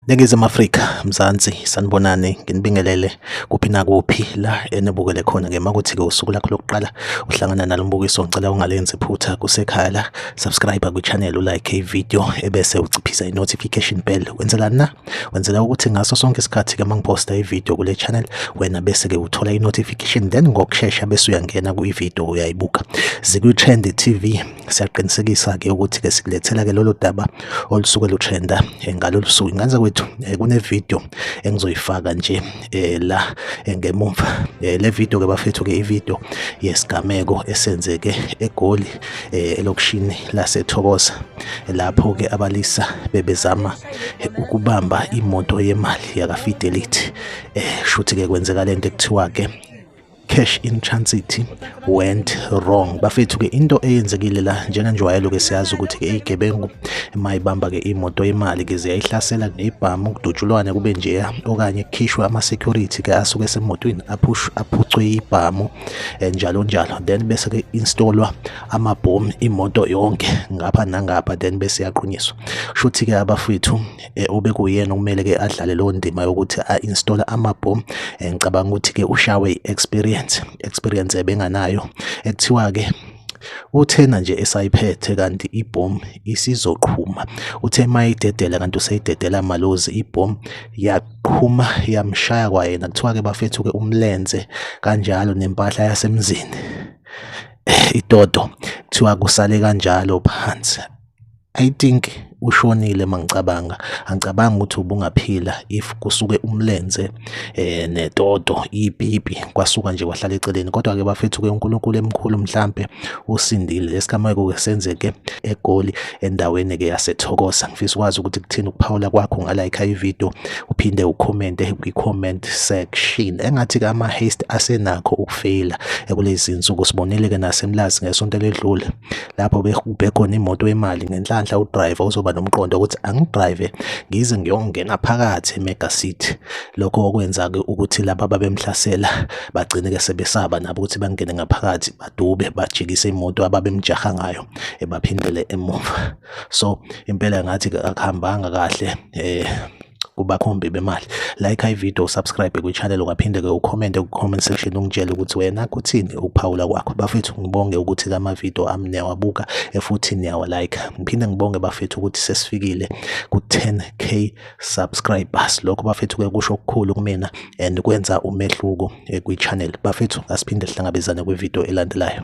Ningizimu Afrika, Mzansi, sanibonani, nginibingelele kuphi nakuphi la enibukele khona ngema ukuthi-ke usuku lakho lokuqala uhlangana nalo mbukiso ngicela ungalenzi phutha kusekhaya la, subscribe kwi-channel, ulike i-video ebese uciphisa i-notification bell, wenzelani na? Wenzela ukuthi ngaso sonke isikhathi ke mangiposta ivideo kule channel wena bese ke uthola i-notification then ngokushesha bese uyangena ku-ivideo uyayibuka. Zikwi-Trend TV siyaqinisekisa ke ukuthi ke sikulethela ke lolu daba olusuke lutrenda eh, ngalolu suku. Inganza kwethu eh, kunevideo engizoyifaka nje eh, la ngemumva. Le video ke bafethu ke ivideo yesigameko esenzeke eGoli elokishini laseThokoza lapho ke abalisa bebezama eh, ukubamba imoto yemali yakafidelity eh shuthi ke kwenzeka lento ekuthiwa ke cash in transit went wrong bafethu ke into eyenzekile la njenganjwayelo ke siyazi ukuthi ke igebengu mayibamba ke imoto yemali ke ziyayihlasela nebhamu ukudutshulwane kube njeya okanye kukhishwe ama security ke asuke semotweni aphush aphucwe ibhamu eh, njalo njalo then bese ke installwa amabhomu imoto yonke ngapha nangapha then bese yaqunyiswa shuthi ke abafwethu eh, ube kuyena kumele ke adlale leyo ndima yokuthi a install amabhomu eh, ngicabanga ukuthi ke ushawe experience experience ebenganayo ekuthiwa ke uthena nje esayiphethe kanti ibhomu isizoqhuma uthe mayidedela kanti useyidedela malozi ibhomu yaqhuma yamshaya kwayena kuthiwa ke bafethu ke umlenze kanjalo nempahla yasemzini itoto kuthiwa kusale kanjalo phansi i think ushonile mangicabanga angicabanga ukuthi ubungaphila if kusuke umlenze eh netoto ipipi kwasuka nje kwahlala eceleni kodwa ke bafethu ke uNkulunkulu emkhulu mhlambe usindile esigameko ke senzeke egoli endaweni ke yasethokoza ngifisa ukwazi ukuthi kuthini ukuphawula kwakho ngalayikha ivideo uphinde ukhomente kwi-comment section engathi ke ama-haste asenakho ukufeyila kulezi nsuku sibonile ke nasemlazi ngesonto eledlule lapho bekhona imoto yemali ngenhlanhla udriver uzoba nomqondo ukuthi angidrive ngize ngiyongena phakathi emega city lokho okwenza ke ukuthi laba babemhlasela bagcine ke sebesaba nabo ukuthi bangene ngaphakathi badube bajikise imoto ababemjaha ngayo ebaphindele emuva so impela ngathi akuhambanga kahle eh kubakhombi bemali like i video subscribe kwichannel ungaphinde ke ucommente ku-comment section ungitshele ukuthi wena kuthini ukuphawula kwakho bafethu ngibonge ukuthi lama video ami niyawabuka futhi niyawa like ngiphinde ngibonge bafethu ukuthi sesifikile ku 10k subscribers lokho bafethu ke kusho okukhulu kumina and kwenza umehluko eh, kwichannel bafethu asiphinde sihlangabezane kwivideo elandelayo